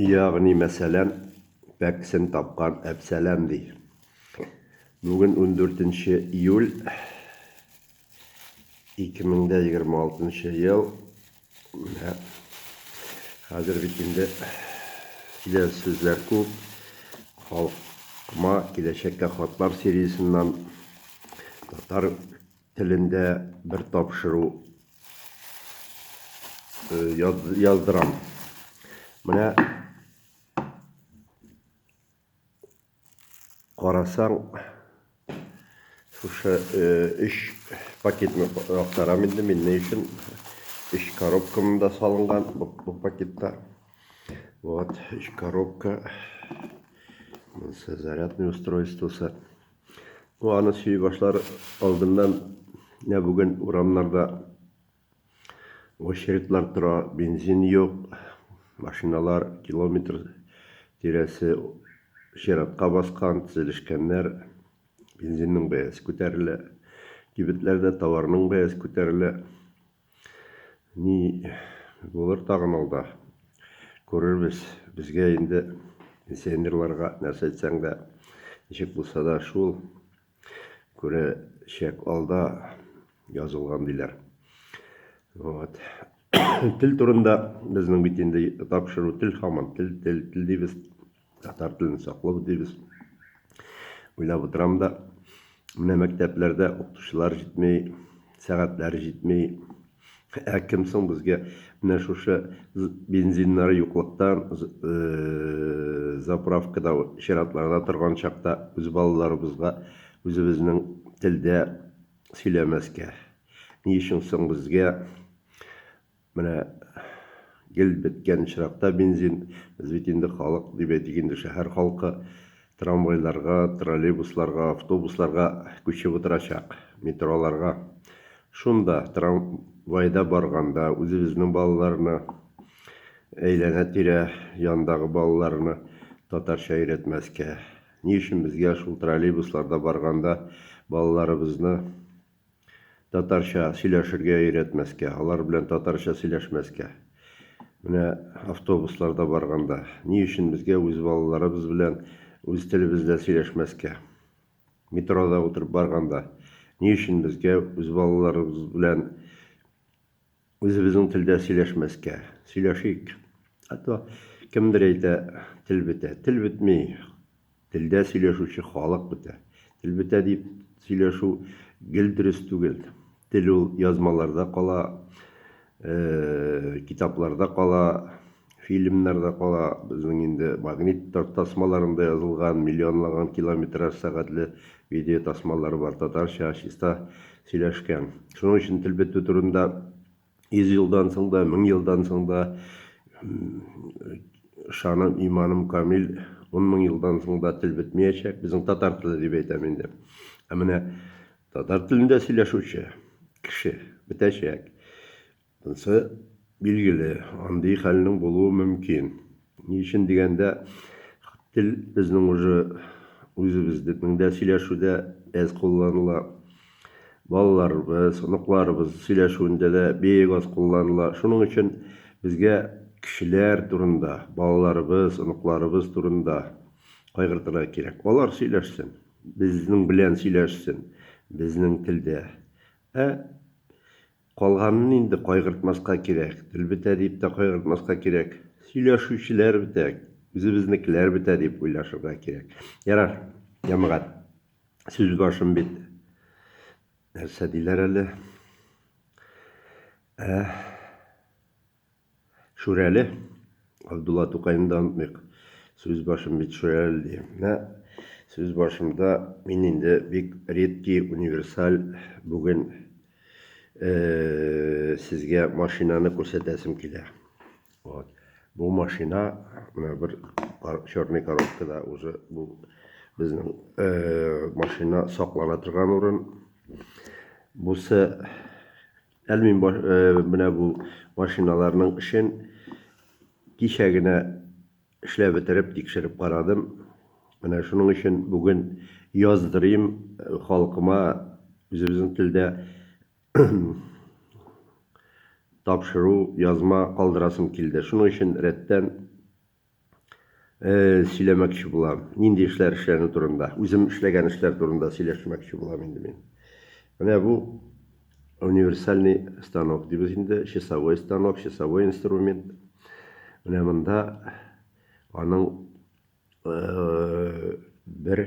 Ягъни мәсәлән, пәкесен тапкан Әпсәләм ди. Бүген ундүртенче июль 2026 ел. Менә хәзер бит инде килә сүзләр күп. Халкыма киләчәккә хатлар сериясеннән татар телендә бер тапшыру яздырам. Менә карасаң, шушы өч пакетны актарам инде мин ни өчен. Өч коробка монда салынган бу пакетта. Вот, өч коробка. Монысы зарядный устройствосы. Бу аны сөй башлар алдыннан менә бүген урамнарда очередлар тора, бензин юк, машиналар километр тирәсе чиратка баскан, тезелешкәннәр, бензинның бәясе күтәрелә, кибетләрдә товарның бәясе күтәрелә. Ни булыр тагын алда? Күрербез. Безгә инде пенсионерларга нәрсә әйтсәң дә, ничек булса да шул күрәчәк алда язылган диләр. Вот. Тел турында безнең бит инде тапшыру тел хаман тел тел тел дибез. татар телен саклау дибез. Уйлап утырам да, менә мәктәпләрдә укытучылар җитмей, сәгатьләр җитми. Ә кем соң безгә менә шушы бензиннары юклыктан э, заправкада чиратларда торган чакта үз балаларыбызга үзебезнең телдә сөйләмәскә? Ни өчен соң безгә Менә гел беткән очракта бензин, без бит инде халык, дип әйтик инде, шәһәр халкы трамвайларга, троллейбусларга, автобусларга күчеп утырачак, метроларга. Шунда, трамвайда барганда, үзебезнең балаларны, әйләнә-тирә яндагы балаларны татарча өйрәтмәскә, ни өчен безгә шул троллейбусларда барганда балаларыбызны татарча сөйләшергә өйрәтмәскә, алар белән татарча сөйләшмәскә. Менә автобусларда барганда, ни өчен безгә үз балаларыбыз белән үз телебездә сөйләшмәскә? Метрода утырып барганда, ни өчен безгә үз балаларыбыз белән Үзебезнең телдә сөйләшмәскә, сөйләшик. А то кемдер әйтә, тел бетә. Тел бетми, телдә сөйләшүче халык бетә. Тел бетә дип сөйләшү гел дөрес түгел. Тел ул язмаларда кала, китапларда кала. Фильмнарда кала, безнең инде магнит тартасмаларында язылган миллионлаган километраж сәгатьле видеотасмалар бар, татарча чиста сөйләшкән. Шуның өчен тел бетү турында йөз елдан соң да, мең елдан соң да, ышаным, иманым камил, ун мең елдан соң да тел бетмиячәк, безнең татар теле дип әйтәм инде. Ә менә татар телендә сөйләшүче кеше бетәчәк. Монсы билгеле, андый хәлнең булуы мөмкин. Ни өчен дигәндә, тел безнең уже үзебезнең дә сөйләшүдә әз кулланыла. Балаларыбыз, оныкларыбыз сөйләшүендә дә бик аз кулланыла. Шуның өчен безгә кешеләр турында, балаларыбыз, оныкларыбыз турында кайгыртырга кирәк. Алар сөйләшсен, безнең белән сөйләшсен, безнең телдә. Ә Калганын инде кайгыртмаска кирәк. Тел бетә дип тә кайгыртмаска кирәк. Сөйләшүчеләр бетә, үзебезнекеләр бетә дип уйлашырга кирәк. Ярар, җәмәгать, сүз башым бит. Нәрсә диләр әле? Ә. Шүрәле. Габдулла Тукайны да онытмыйк. Сүз башым бит Шүрәле ди. Менә сүз башымда мин инде бик редкий, универсаль бүген сезгә машинаны күрсәтәсем килә. Вот. Бу машина менә бер черный коробкада уже бу безнең машина саклана торган урын. Бусы Әле мин менә бу машиналарның эшен кичә генә эшләп бетереп, тикшереп карадым. Менә шуның өчен бүген яздырыйм халкыма үзебезнең телдә тапшыру, язма калдырасым килде. Шуның өчен рәттән сөйләмәкче булам. Нинди эшләр эшләнү турында. Үзем эшләгән эшләр турында сөйләшмәкче булам инде мин. Менә бу универсальный станок дибез инде, часовой станок, часовой инструмент. Менә монда аның э, бер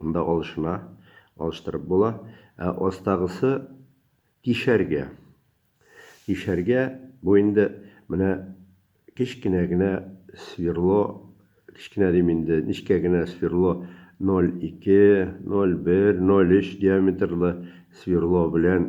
Монда алышына, алыштырып була. Ә астагысы тишәргә. Тишәргә, бу инде менә кечкенә генә сверло, кечкенә дим инде, нечкә генә сверло 0,2, 0,1, 0,3 диаметрлы сверло белән